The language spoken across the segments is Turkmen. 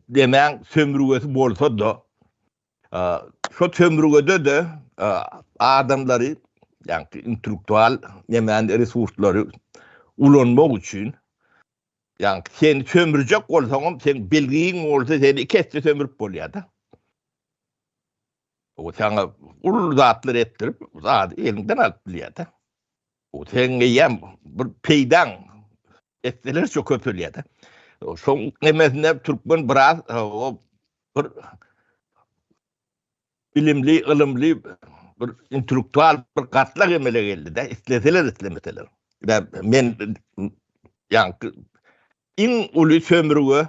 demäň sömrügesi bolsa-da, şo sömrügede-de adamlary, ýagny intellektual nemäni, resurslary ulanmak üçin, ýagny seni sömürjek bolsaňam, seň bilgiň bolsa, seni iki esse sömürip bolýar-da. Saňa uly zatlar etdirip, zady eliňden alyp bilýär-de. O seň eýýäm bir peýdaň esselerçe köpelýär-de. Şoň emesine türkmen biraz o bir bilimli, ylymly, bir intellektual bir gatlag emele geldi-de, isleseler, islemeseler. Men ýaňky iň uly sömürge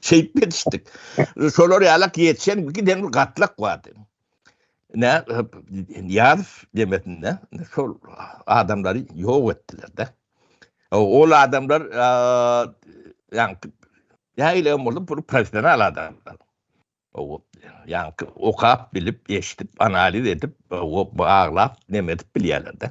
Şeýtip ýetişdik. Şolar ýalak ýetişen iki deň gatlak bardy. Ne ýaz demesinde şol adamlary ýok etdiler de. Ol adamlar ýaňky ýaýla bolup bir professional adamlar. O ýaňky okap bilip, eşidip, analiz edip, o baglap, nemetip bilýärler de.